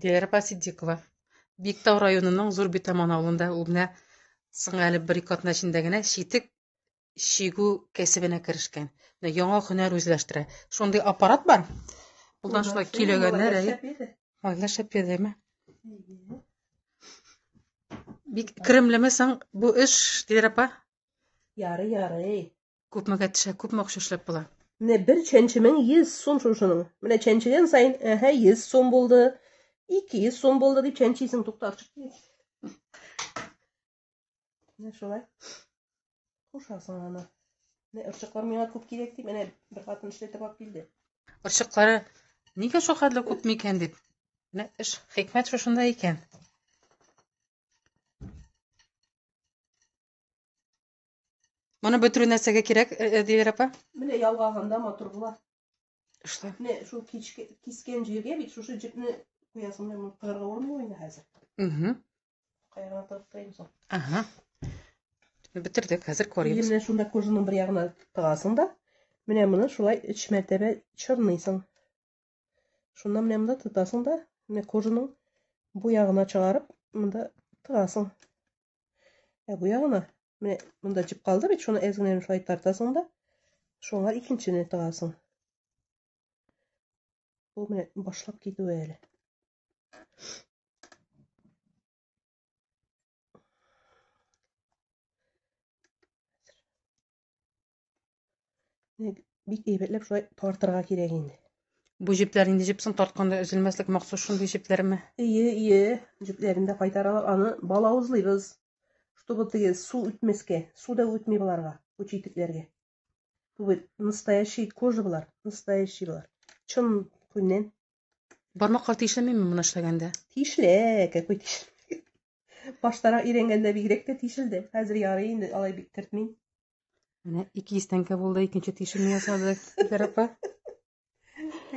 Диләрә апа Ситдикова. Биектау районының Зур Битаман авылында ул менә соң әле бер-ике атна эчендә генә читек чигү кәсебенә керешкән. Менә яңа һөнәр үзләштерә. Шундый аппарат бар. Булдан шулай көйләгәннәр, әйе. Малайлар шәп йөрдеме? Бик керемлеме соң бу эш, Диләрә апа? Ярый, ярый. Күпмегә төшә, күпме акча эшләп була? Менә бер чәнчемең 100 сум шушының. Менә чәнчегән саен, әһә, 100 сум булды, 200 сум булды дип чәнчисең, туктатып. Менә шулай. Кушасың аны. Менә ырчыклар миңа күп кирәк дип, менә бер хатын эшләтеп алып килде. Ырчыклары нигә шул хәтле күп микән дип. Менә эш хикмәт шушында икән. Моны бөтерү нәрсәгә кирәк, э, э, Дилер апа? Менә ялгаганда матур була. Что? Менә шул кичке кискән җиргә бит шушы җепне куясың да моны кырга урмый инде хәзер. Угу. Каягына тыгып куйыйм соң. Ага. Бетердек, хәзер корыйбыз. Менә шунда кожаның бер ягына тыгасың да, менә моны шулай өч мәртәбә чорныйсың. Шунда менә монда тотасың да, менә кожаның бу ягына чыгарып, монда тыгасың. Ә бу ягына менә монда җеп калды бит, шуны әз генә шулай тартасың да, шуңа икенчене тыгасың. Бу менә башлап китүе әле. Бик әйбәтләп шулай тартырга кирәк инде. Бу җепләр инде җепсен тартканда өзелмәслек махсус шундый җепләрме? Ие, ие. Җепләрен дә кайтаралар. Аны балавызлыйбыз. Чтобы теге су үтмәскә. Су да үтми боларга, бу читекләргә. Бу настоящий кожа болар, настоящий болар. Чын күннән. Бармаклар тишелмиме моны эшләгәндә? Тишелә, какой тишелмәгән. Баштарак өйрәнгәндә бигрәк тә тишелде. Хәзер ярый инде алай бик кертмим. Менә ике йөз тәңкә булды, икенче тишекне ясадык, диләр апа.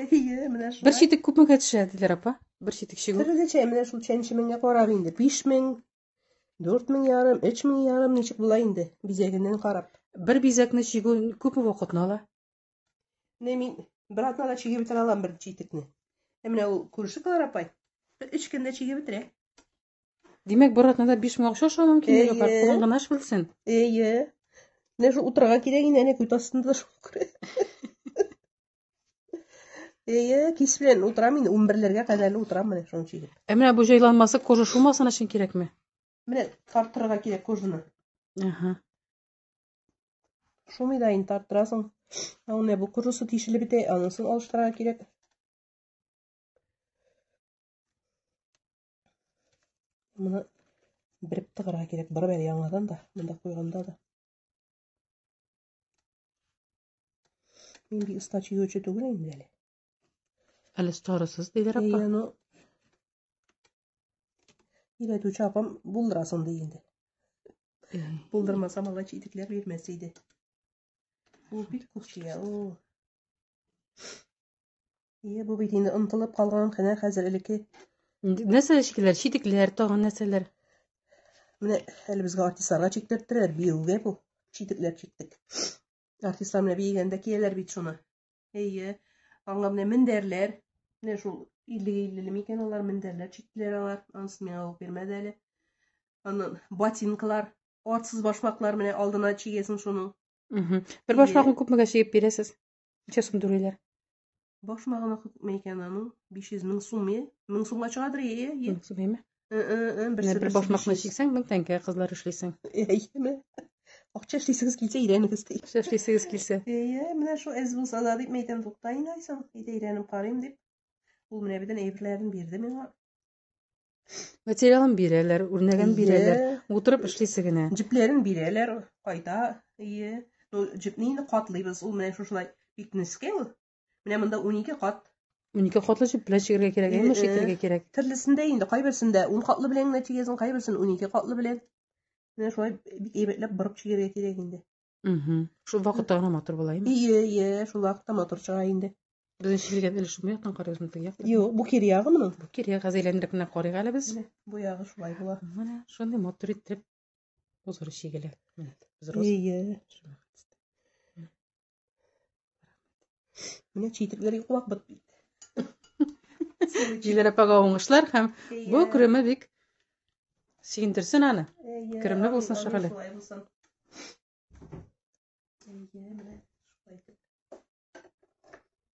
Әйе, менә шулай. Бер читек күпмегә төшә, диләр апа? Бер читек чигү. Төрлечә, менә шул чәнче меңгә карап инде. 5000, 4000 ярым, 3000 ярым ничек була инде, бизәгеннән карап. Бер бизәкне чигү күпме вакытны ала? Менә мин бер атнада чигеп бетерә алам бер читекне. Ә менә ул күрше Клара апай бер өч көндә чигеп бетерә. Димәк, бер атнада 5000 акча аша мөмкинлеге бар. Кулың гына эш белсен. Әйе. Менә шу утырга кирәк инде, әнә күт астында да шул күрә. Әйе, кис белән утырам инде, 11-ләргә кадәр утырам менә шуның чигеп. Ә менә бу җайланмасы кожа шумасын өчен кирәкме? Менә тартырга кирәк кожаны. Ага. Шумый да инде тартырасың. Ә менә бу кожасы тишелеп бетә, анысын алыштырырга кирәк. Моны береп тыгырга кирәк. Барып әле яңадан да, монда куйганда да. Мин бик оста чөйгече түгел инде әле. Әле старысыз диләр апа. Әйе, ну. Өйрәтүче апам булдырасың ди инде. Булдырмаса малай читекләр бирмәс иде. Ул бик күп чия. Ул Ие, бу бит инде онытылып калган кына хәзер элекке. Нәрсә чикиләр? Читекләр, тагын нәрсәләр? Менә әле безгә артистларга чиктерттеләр, биюгә бу. Читекләр чиктек. Артистлар менә биегәндә кияләр бит шуны. Әйе. Аңа менә мендәрләр. Менә шул 50-50 микән алар мендәрләр чиктеләр алар. Анысы миңа алып бирмәде әле. Аннан ботинкалар, артсыз башмаклар менә алдына чигәсең шуның. Бер башмакны күпмегә чигеп бирәсез? Ничә сум түлиләр? Баш махына күпме икән аның? 500 мең сум, е? Мең сумга чыгадыр, е, е? Мең сум, еме? Берсе, бер баш махна чиксәң, мең тәңкә кызлар эшлисең. Әйеме? Акча эшлисегез килсә, өйрәнегез. Акча эшлисегез килсә. Әйе, менә шул әз булса да дип мәйтәм, тукта инде айсың. Әйдә өйрәнеп карыйм дип. Ул менә бедән әйберләрен бирде миңа. Материалын бирәләр, үрнәген бирәләр. Утырып эшлисе генә. Җепләрен бирәләр, кайта. Ие. Ну, җепне инде катлыйбыз. Ул менә шушылай бик нескә ул. Менә монда 12 кат. 12 катлы җеп белән чигергә кирәк, әмма чигергә кирәк. Төрлесендә инде кайберсендә 10 катлы белән генә чигәсең, кайберсен 12 катлы белән. Менә шулай бик әйбәтләп борып чигергә кирәк инде. Шул вакытта гына матур була инде. Ие, ие, шул вакытта матур чыга инде. Безнең чилгән өлеш бу яктан карыйбызмы теге яктан? Юк, бу кир ягы моның. Бу кир ягы әйләндереп кенә карыйк әле без. Бу ягы шулай була. Менә шундый матур итеп узыр чигелә. Ие. Менә читекләргә куак бит. Җиләр апага уңышлар һәм бу күреме бик сөендерсен аны. Керемле булсын шәһәле.